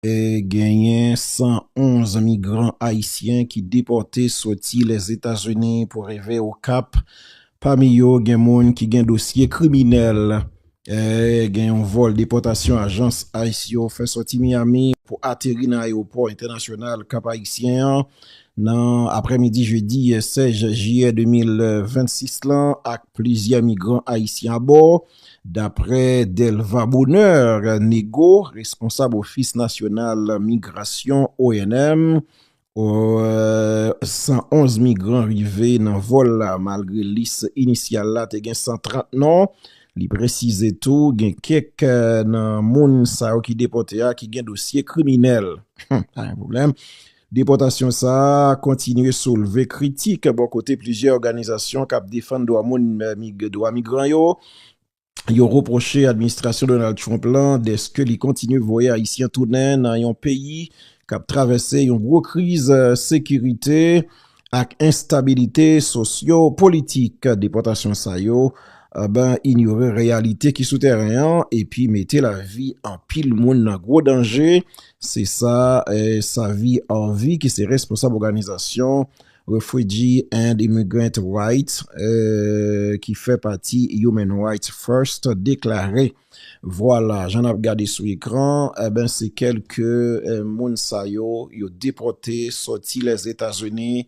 Genyen 111 migran ayisyen ki depòte soti Lèzetazini pou rive Okap. Pami yo gen moun ki gen dosye kriminèl. Gen yon vòl depòtasyon ajans ice yo fè soti Miami pou ateri nan ayewopò entènasyonal Kap Ayisyen an nan aprè midi jedi 16 jiyè 2026 lan ak plizyè migran ayisyen abò. Daprè Delva Bonheur Nego, responsab ofis nasyonal migrasyon, onm, 111 migran rive nan vòl la malgre lis inisyal la te gen 130 non. Li presize tou gen kèk nan moun sa yo ki depòte a ki gen dosye kriminèl. Depòtasyon sa a kontinye soulve kritik bò kote plizyè òganizasyon k ap defann dwa moun ak dwa migran yo. Yo repwoche administrasyon Donald Trump la dèske li kontinye voye Ayisyen tounen nan yon peyi k ap travèse yon gwo kriz sekirite. ak enstabilite sosyo politik depòtasyon sa yo inyore reyalite ki sou tèren an epi mete lavi anpil moun nan gwo danje se sa Savi Arvy ki se responsab òganizasyon Refwiji and Imigrant Rights ki fè pati Human Rights First deklare. Vwala, jan nap gade sou ekran, enben se kelke moun sa yo, yo depote soti Lèzetazini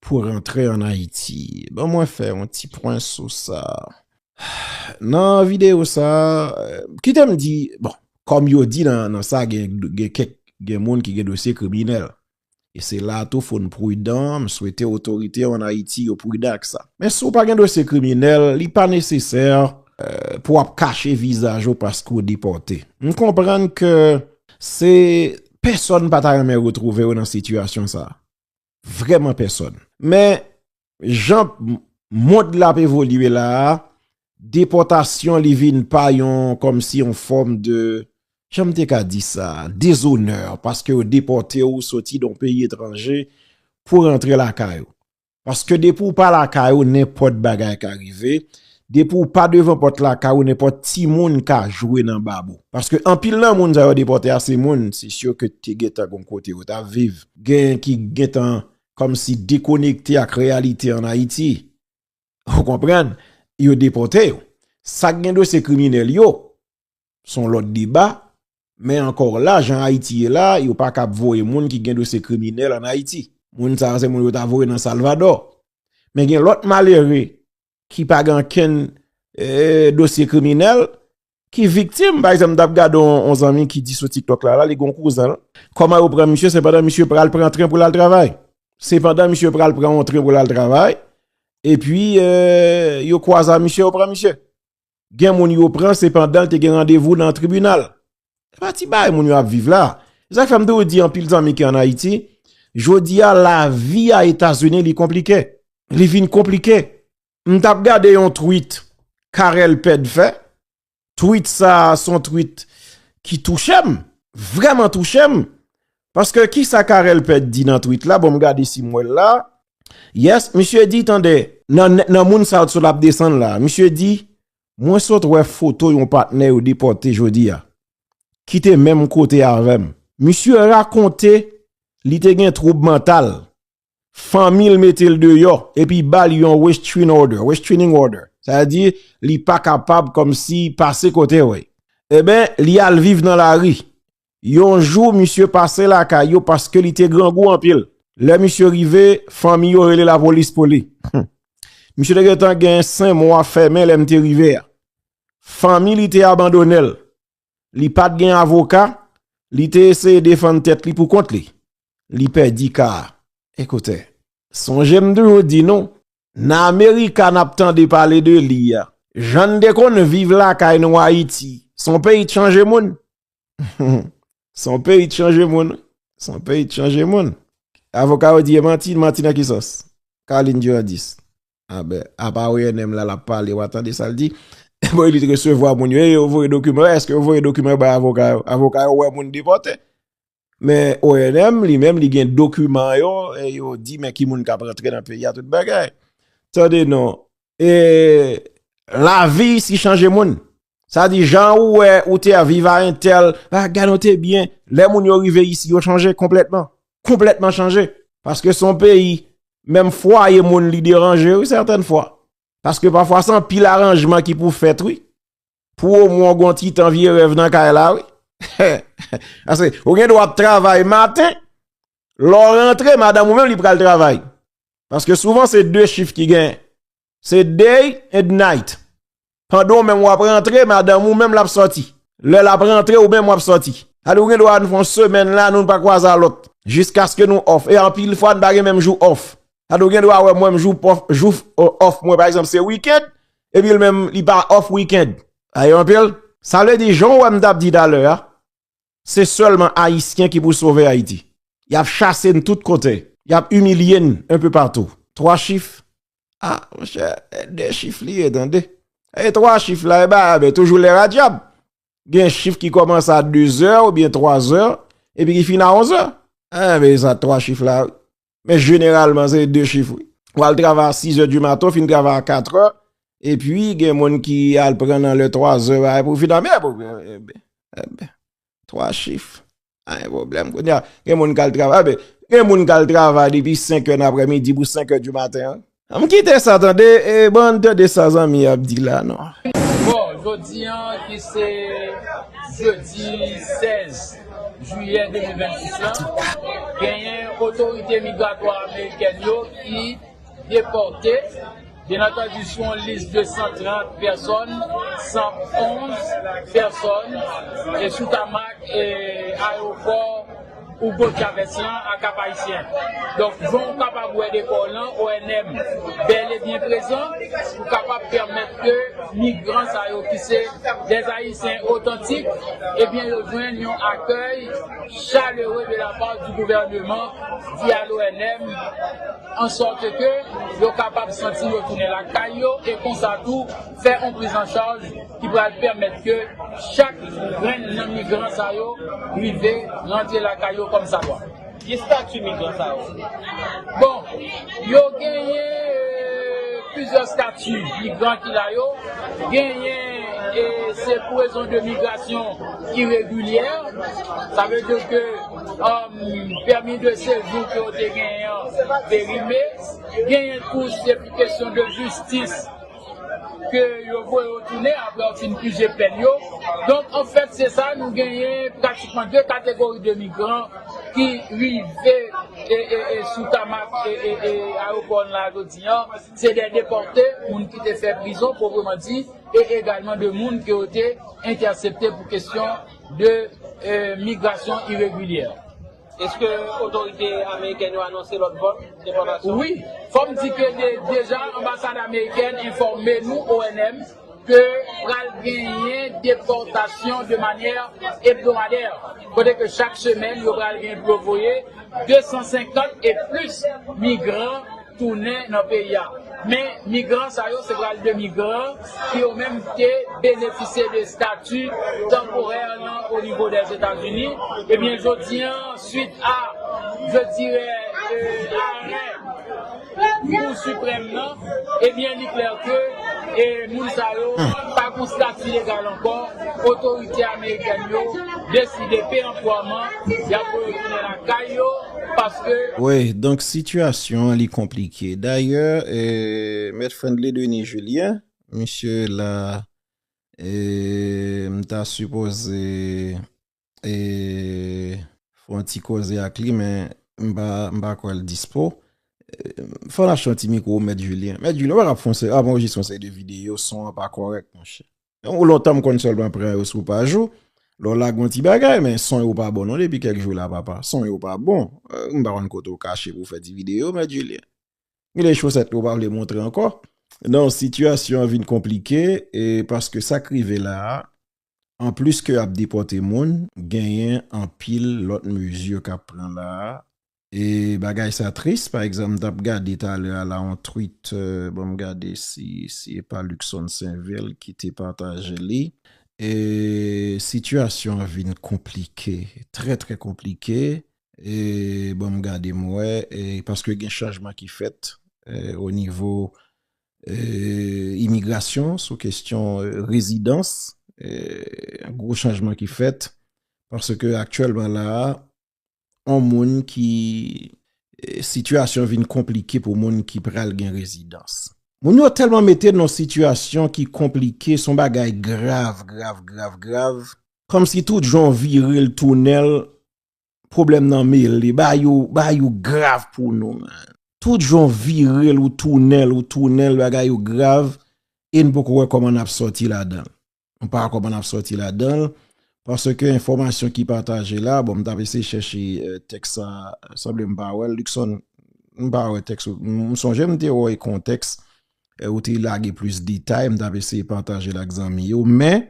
pou rantre an Ayiti. Ban mwen fè yon ti pwen sou sa. Nan videyo sa, kite m di, bon, kòm yo di nan sa gen kèk gen moun ki gen dosye kriminèl. E se la a tou fò n prudan, m swete otorite yo an Ayiti yo prudan ak sa. Men si w pa gen dosye kriminèl, li pa nesesè pou w ap kache vizaj ou paske w depòte. M konprann ke se pèsòn pa ta renmen retwouve yo nan sitiyasyon sa a. Vrèman pèsòn. Men, Jan mond la ap evolye la a, depòtasyon li vin pa yon kòmsi yon fòm de, jan m te ka di sa, dezonè, paske yo depòte ou soti nan yon peyi etranje pou rantre lakay ou. Paske depi ou pa lakay ou, nenpòt bagay ka rive, depi ou pa devan pòt lakay ou, nenpòt timoun ka jwe nan bab ou. Paske anpil nan moun sa yo depòte a, se moun se syo ke te gen tan gen yon kote yo ta viv, gen ki gen tan kòm si dekonekte ak reyalite an Ayiti. Ou konprann, yo depòte yo. Sa k gen dosye kriminèl yo, s on lòt deba, men ankò la, jan Ayiti ye la, yo pa kab voye moun ki gen dosye kriminèl an Ayiti. Moun sa yo se moun yo ta voye nan Salvadò. Men gen lòt malere ki pa gen ankenn dosye kriminèl, ki viktim, pa egzanp, m t ap gade yon zanmi ki di sou TikTok la, li gen yon kouzen l, kòman yo pran misye, se pandan misye pral pran tren pou l al travay, se pandan misye pral pran yon tren pou l al travay, epi yo kwaze a misye, yo pran misye. gen moun yo pran se pandan l te gen randevou nan tribinal. Se pa ti bagay moun yo ap viv la. Se sa k fè m toujou di anpil zanmi ki an Ayiti, jodi a lavi a Etazini li konplike. Li vin konplike. M t ap gade yon tweet Carel Pède fè, tweet sa a son tweet ki touche m, vrèman touche m. Paske ki sa Carel Pèd di nan twit la, bon m gade si m wè l la, yes, misye di tande, nan moun sa sot ap desann la, misye di, mwen sot wè foto yon patnè yo depòte jodi a, ki te menm kote avè m. Misye rakonte li te gen twoub mantal, fanmi l mete l deyò epi ba l yon restraining order, restraining order, sa vle di li pa kapab kòm si pase kote w, e ben li al viv nan lari. Yon jou misye pase lakay yo paske li te grangou anpil. Lè misye rive, fanmi yo rele lapolis pou li. Misye te gentan gen 5 mwa fèmen lè m te rive a. Fanmi li te abandone l. Li pat gen avoka, li te eseye defann tèt li pou kont li. Li pèdi ka a. Ekoute, sonje m toujou di nou, nan Amerika n ap tande pale de li a, jan n te konn viv lakay nou Ayiti, s on peyi k chanje moun. S on peyi k chanje moun wi. S on peyi k chanje moun. Avoka yo di e manti, manti nan ki sans? Carline Durandis. Amen. Apa ou NM la lap pale wa tande sal di. Bon li te resevwa moun yo e yo voye dokiman yo. Eske yo voye dokiman yo bay avoka yo. Avoka yo wè moun depote. Men ONM li menm li gen dokiman yo e yo di men ki moun kap rentre nan peyi a tout bagay. Tande non. E lavi si chanje moun. Sa di jan ou wè ou te a viv a entèl, a gade ou te byen, lè moun yo rive isi yo chanje konplètman, konplètman chanje. Paske son peyi, menm fwa ye moun li deranje ou sèten fwa. Paske pa fwa san pil aranjman ki pou fèt ou, pou ou moun gon ti tan vye rèv nan kay la ou. Ase, ou gen do ap travay maten, lò rentre madan mou menm li pral travay. Paske souvan se 2 chif ki gen, Se day and night. Pandan ou menm wap rantre, madanm ou menm lap soti. Lè lap rantre, ou menm wap soti. Sa di ou gen dwa ann fè yon semèn la, nou pa kwaze a lòt. Jiskaske nou off. E anpil fwa nou pa gen menm jou off. Sa di ou gen dwa wè mwen jou off, jou off mwen pa egzanp se weekend, epi li menm li pa off weekend. Sa di anpil? Sa vle di jan ou wè m tap di talè a, Se sèlman Ayisyen ki pou sove Ayiti. Y ap chase n tout kote. Y ap imilye n enpe patou. Twa chif? A, monchè, e de chif li ye tande. E twa chif la, e ba a be, toujou lè radyab. Gen chif ki kòmanse a dezè oubyen twazè epi ki fini a onzè. Enben, e sa twa chif la wi. Men jeneralman se 2 chif wi. Ou al travay a 6 è di maten, ou fin travay a 4 è, e pi gen moun ki al pran nan lè 3 è ba e pou fin ame pou gen e ben, e ben, 3 chif, pa gen pwoblèm. Kounye a, gen moun ki al travay, e ben, gen moun ki al travay depi 5 è nan aprè midi pou 5 è di maten an. Ann kite sa tande e ban ann tande sa zanmi yo ap di la non. Bon, jodi an ki se jedi 16 jiyè 2026 lan, genyen otorite migratwa amerikèn yo ki depòte, byen antandu sou yon lis de 130 pèsòn, 111 pèsòn sou tamak ayewopò. Hugo Chavez lan ak Kap-Ayisyen. Donk, jan ou kapab wè dekò w lan, ONM bèl e byen prezan pou kapab pèmèt ke migran sa yo ki se dè Ayisyen otantik, ebyen yo jwenn yon akèy chalere de la part du gouvernement di a l'ONM, an sorte ke yo kapab santi yo tounen lakay yo e konsa tou, fè yon priz an chaj ki pral pèmèt ke chak grenn nan migran sa yo rive rantre lakay yo kòm sa dwa. Ki stati migran sa yo? Bon, yo genyen plizyè stati migran ki la yo. Genyen se pou rezon de migrasyon iregilyè, sa vle di ke pèmi de sejou ke yo te genyen an perime. Genyen tou se pou kesyon de jistis. ke yo voye yo tounen apre yo fin pije pèn yo. Donk, an fèt, se sa, nou genyen pratikman 2 kategori de migran ki rive sou tamak ayewopò n la jodi an, se de depòte, moun ki te fè prizon pwopreman di, e egalman de moun ke yo te entèsepte pou kesyon de migrasyon iregilyè. Eske otorite amerikèn yo anonse lòt vòl depòtasyon? Wi, fò m di ke deja anbasad amerikèn enfòme nou, ONM, ke pral genyen depòtasyon de manyè ebdomadè, kote ke chak semèn yo pral gen pou yo voye 250 e plis migran. tounen nan peyi a. Men migran sa yo se pral de migran ki yo menm te benefisye de stati tanporè nan onivo Dèzetazini. Ebyen jodi an swit a je dirè arè kou siprèm nan ebyen li klè ke moun sa yo pa gon stati legal ankò otorite amerikèn yo deside peranpwaman yap voye yo tounen lakay yo. paske. Wi, donk sitiyasyon an li konplike. Dayè, Mèt Friendly Denis Julien, misye la, m ta sipoze fè yon ti koze ak li men m pa kwè l dispo. Fò n achte yon ti mikwo Mèt Julien. Mèt Julien, ou pa ka ap fè yon seri, ap anrejistre yon seri de videyo, son an pa kòrèk monchè. Ou lontan m konn sèlman pran yo sou paj ou, lè w lage yon ti bagay men son yo pa bon non depi kèk jou la papa, son yo pa bon, m pa konn kote w kache pou w fè ti videyo mèt Julien. Gen de chosèt ke w pa vle montre ankò. Non, sitiyasyon an vin konplike e paske sa k rive la a, an plis ke y ap depòte moun, genyen anpil lòt mezi k ap pran la a E bagay sa tris pa egzanp m tap gade talè a la yon twit bon m gade si si e pa Luckson Sainvil ki te pataje li. E sitiyasyon an vin konplike trè trè konplike e bon m gade m wè e paske gen chanjman ki fèt o nivo e imigrasyon sou kestyon rezidans e gwo chanjman ki fèt paske aktyèlman la a yon moun ki sitiyasyon vin konplike pou moun ki pral gen rezidans. Moun yo tèlman mete n yon sitiyasyon ki konplike, s on bagay grav, grav, grav, grav. Kòmsi tout jan w vire l tounen l, pwoblèm nan mele. Bagay yo, bagay yo grav pou nou menn. Tout jan w vire l, ou tounen l, ou tounen l, bagay yo grav e n poko wè kòman n ap sòti ladan l. m pa koman nap soti ladanl paske enfòmasyon ki pataje la bon m tap eseye chèche tèks sa sanble m pa wèl Luckson m pa wè tèks ou m sonje m te wè kontèks ou te lage plis detay m tap eseye patajel ak zanmi yo men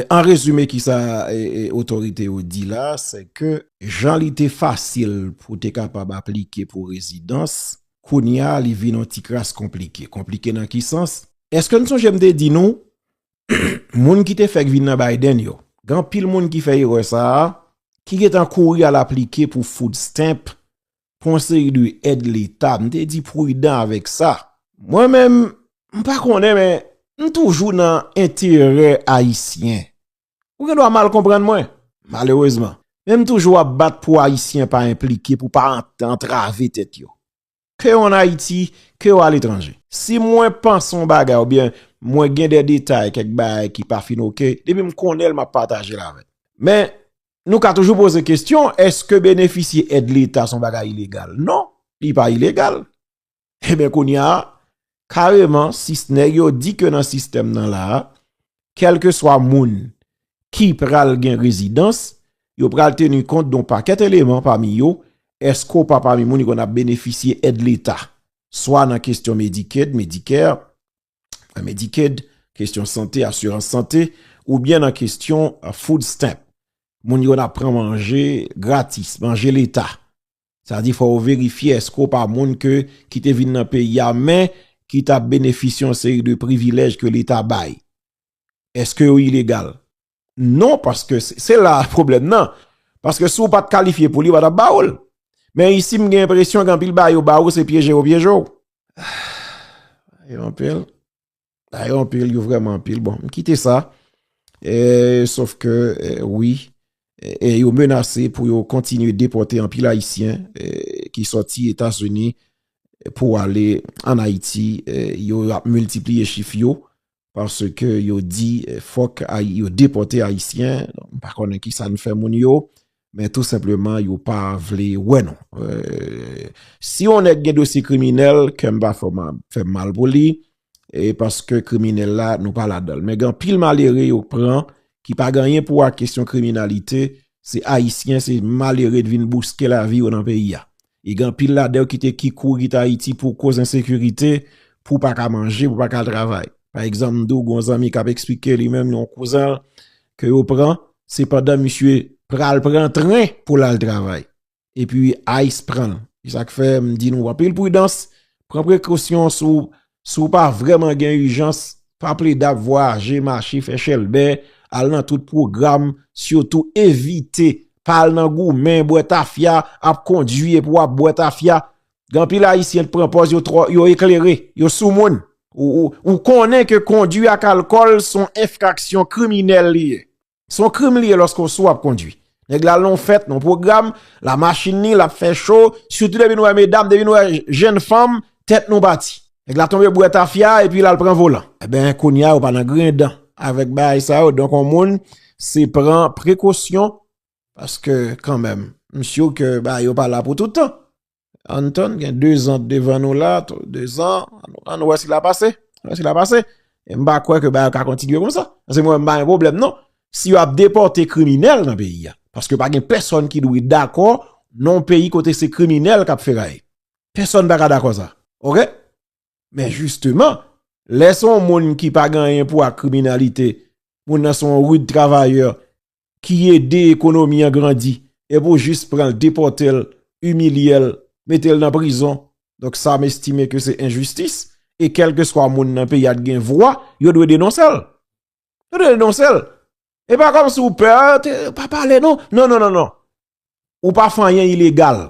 an rezime kisa otorite yo di la se ke jan li te fasil pou te kapab aplike pou rezidans kounya li vin yon ti kras konplike konplike nan ki sans eske n sonje m te di nou moun ki te fèk vin nan Biden yo, gen anpil moun ki fè erè sa a, ki gentan kouri al aplike pou food stamp, pou yon seri de èd leta, m te di pridan avèk sa. Mwen menm, m pa konnen men, m toujou nan enterè Ayisyen. Ou gen dwa mal konprann mwen, malerezman. Men m toujou ap bat pou Ayisyen pa enplike, pou pa antrave tèt yo. ke an Ayiti, ke o aletranje. Si mwen panse yon bagay ou byen mwen gen de detay kèk bagay ki pa fin ok, depi m konnen l m ap pataje l avèk. Men, nou ka toujou poze kesyon, èske benefisye èd leta se yon bagay ilegal? Non, li pa ilegal. Eben kounye a, kareman si nèg yo di ke nan sistèm nan la a, kèlke swa moun ki pral gen rezidans, yo pral teni kont don pakèt eleman pami yo, èske ou pa pami moun ki konn ap benefisye èd leta, swa nan kestyon Medicaid, Medicare, Medicaid, kestyon sante, asirans sante, oubyen nan kestyon food stamp, moun ki konn ap pran manje gratis, manje leta. Sa di fò ou verifye eske ou pa moun ke ki te vin nan peyi a men ki ta benefisye yon seri de privilèj ke leta bay. Eske ou ilegal? Non paske se la pwoblèm nan. Paske si ou pat kalifye pou li yo pa tap ba ou l. Men isi m gen enpresyon gen anpil bagay yo ba ou se pyeje yo pyeje ou. Ahh. Yo anpil. Ayo ah, anpil, yo vreman anpil. Bon, m kite sa. E, sof ke, e, wi, e, yo menase pou yo kontinye depote anpil Ayisyen ki soti Etasini pou ale an Ayiti. Yo ap multipliye chif yo parce ke yo di fok yo depote Ayisyen. M pa konnen ki sa n fè moun yo. Men tou senpleman yo pa vle wè nou. Si yon nèg gen dosye kriminèl, kèm pa fè mal pou li, e paske kriminèl la nou pa ladanl. Men gen pil malere yo pran ki pa genyen pou a kesyon kriminalite, se ayisyen, se malere te vin bouske lavi yo nan peyi a. E gen anpil ladan yo ki te ki kouri kite Ayiti pou koz ensekirite, pou pa ka manje, pou pa ka al travay. Pa egzanp, m di w gen yon zanmi k ap esplike li menm yon kouzen l ke yo pran, se pandan misye pral pran tren pou l al travay. E pi ice pran l. Se sa k fè m di nou anpil pridans, pran prekosyon sou Si w pa vrèman gen ijans, pa plede ap vwayaje, mache, fè chèlbè, al nan tout pwogram, sitou evite, pa al nan goumen, bwè tafya, ap kondwi epi w ap bwè tafya. Gen anpil Ayisyen ki pran pòz yo twò, yo eklere, yo soumoun. Ou konnen ke kondwi ak alkòl son enfraksyon kriminèl li ye. Se yon krim li ye lòske w sou ap kondwi. Nèg la al nan yon fèt, nan yon pwogram, la machin li, l ap fè cho, sitou depi nou wè medam, depi nou wè jenn fanm, tèt nou pati. Nèg la tonbe bwè tafya epi l al pran volan. Enben, kounye a yo pa nan grendan avèk bagay sa yo. Donk yon moun se pran prekosyon paske kanmenm m si w ke bagay yo pa la pou toutan. Ann tann gen 2 zan devan nou la, 2 zan, ann wè si la pase, ann wè si la pase. E m pa kwè ke bagay yo ka kontinye kon sa. Anse mwen m pa gen pwoblèm non. Si yo ap depòte kriminèl nan peyi a, paske pa gen pèsòn ki dwe dakò non peyi kote se kriminèl kap feraye. Pèsòn pa ka dakò sa. Ok? Men jisteman, lè son moun ki pa gen anyen pou ak kriminalite, moun nan son rude travayè, ki ede ekonomi an grandi e pou jis pran l depòte l, imilye l, mete l nan prizon. Donk sa m estime ke se enjistis e kèlkeswa moun nan peyi a t gen vwa yo dwe denonse l. Yo dwe denonse l. E pa kòm si ou pè, pa pale non. Non, non, non, non. Ou pa fè anyen ilegal.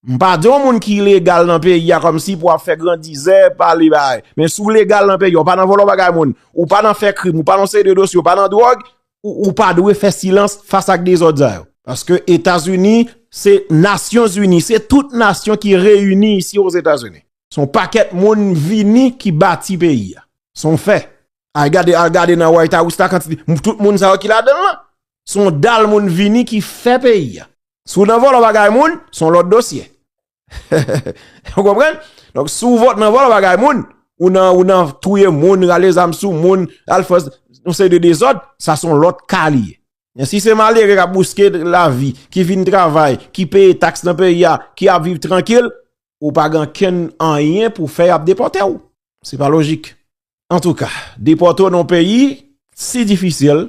M pa di yon moun ki ilegal nan peyi a kòmsi pou ap fè grandizè, pale bagay. Men si w legal nan peyi a, ou pa nan vòlò bagay moun, ou pa nan fè krim, ou pa nan yon seri de dosye, ou pa nan dwòg, ou pa dwe fè silans fas ak dezòd sa yo. Paske Etazini se nasyon zini, se tout nasyon ki reyini isi o Etazini. Se yon pakèt moun vini ki bati peyi a. Se yon fè. Al gade nan White House la kantite, tout moun sa yo ki ladan l lan. Se yon dal moun vini ki fè peyi a. Si w nan vòlò bagay moun, se yon lòt dosye. Ou konprann? Donk si w nan vòlò bagay moun, ou nan touye moun, rale zam sou moun, al fè yon seri de dezòd, sa se yon lòt ka li ye. Men si se malere k ap bouske lavi, ki vin travay, ki peye taks nan peyi a, ki ap viv trankil, ou pa gen kenn anyen pou fè y ap depòte ou. Se pa lojik. Antouka, depòte ou nan yon peyi si difisil.